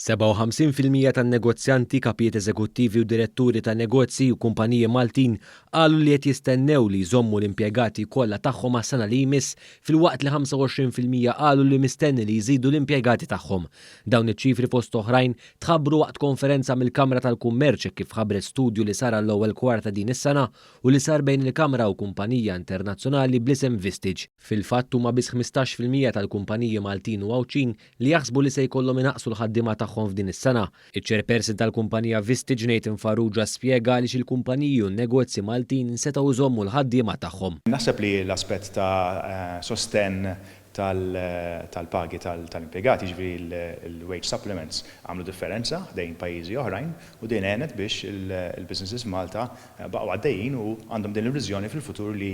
57 fil-mija tan-negozjanti, kapijiet eżekuttivi u diretturi ta' negozji u kumpaniji Maltin qalu li qed jistennew li jżommu l-impjegati kollha tagħhom għas-sena li jmiss filwaqt li 25 fil-mija qalu li mistenni li jżidu l-impjegati tagħhom. Dawn iċ-ċifri fost oħrajn tħabbru waqt konferenza mill-Kamra tal-Kummerċ hekk kif ħabbret studju li sar għall-ewwel kwart ta' din is-sena u li sar bejn il-Kamra u kumpanija internazzjonali bl-isem Vistage. Fil-fatt huma biss ħmistax fil-mija tal-kumpaniji Maltin u Għawdxin li jaħsbu li se jkollhom inaqqsu l-ħaddiema tagħhom f'din is-sena. Iċ-Chairperson tal-kumpanija Vistage Nathan Farrugia spjega għaliex il-kumpaniji u n-negozji Maltin setgħu jżommu l-ħaddiema tagħhom. Naħseb li l-aspett ta' sostenn tal-pagi tal-impjegati, jiġifieri l-wage supplements, għamlu differenza ħdejn pajjiżi oħrajn u din għenet biex il-businesses f'Malta baqgħu għaddejjin u għandhom din l-illużjoni fil-futur li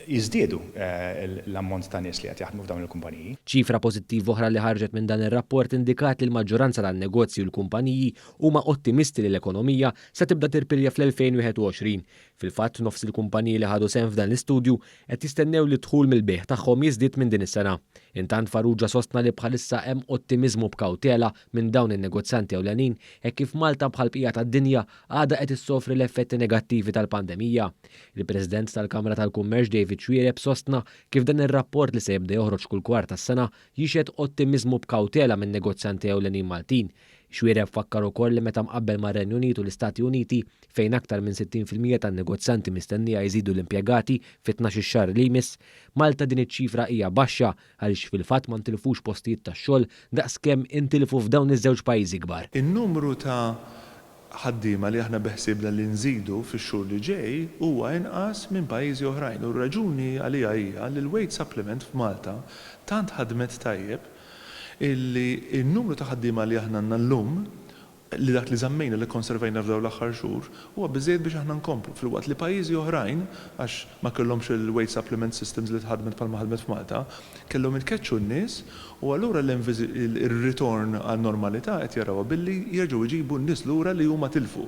jiżdiedu l-ammont ta' nies li qed jaħdmu f'dawn il-kumpaniji. Ċifra pożittiva oħra li ħarġet minn dan ir-rapport indikat li l-maġġoranza tan-negozji u l-kumpaniji huma ottimisti li l-ekonomija se tibda tirpilja fl-2021. Fil-fatt, nofs il-kumpaniji li ħadu sehem f'dan l-istudju qed jistennew li d-dħul mill-bejgħ tagħhom jiżdied minn din is-sena. Intant Farrugia sostna li bħalissa hemm ottimiżmu b'kawtela minn dawn in-negozjanti ewlenin hekk kif Malta bħall-bqija tad-dinja għadha qed issofri l-effetti negattivi tal-pandemija. Il-President tal-Kamra tal-Kummerċ David Xuereb sostna kif dan ir-rapport li se jibda joħroġ kull kwart tas-sena jixhed ottimiżmu b'kawtela min-negozjanti ewlenin Maltin Xuereb fakkar ukoll li meta mqabbel mar-Renju Unit u l-Istati Uniti, fejn aktar minn 60 fil-mija tan-negozjanti mistennija jżidu l-impjegati fit-tnax-il xahar li jmiss, Malta din iċ-ċifra hija baxxa għaliex fil-fatt ma ntilfux postijiet tax-xogħol daqs kemm intilfu f'dawn iż-żewġ pajjiżi kbar. In-numru ta' ħaddiema li aħna beħsiebna li nżidu fix-xhur li ġej huwa inqas minn pajjiżi oħrajn u r-raġuni għaliha hija li l-wage supplement f'Malta tant ħadmet tajjeb illi n-numru ta' ħaddiema li aħna għandna llum, li dak li żammejna, li kkonservajna f'dawn l-aħħar xhur, huwa biżżejjed biex aħna nkomplu, filwaqt li pajjiżi oħrajn, għax ma kellhomx il-wage supplement systems li tħaddmet bħalma ħadmet f'Malta, kellhom itkeċċu n-nies u allura l-ritorn għan-normalità qed jarawha billi jerġgħu jġibu n-nies lura li huma tilfu.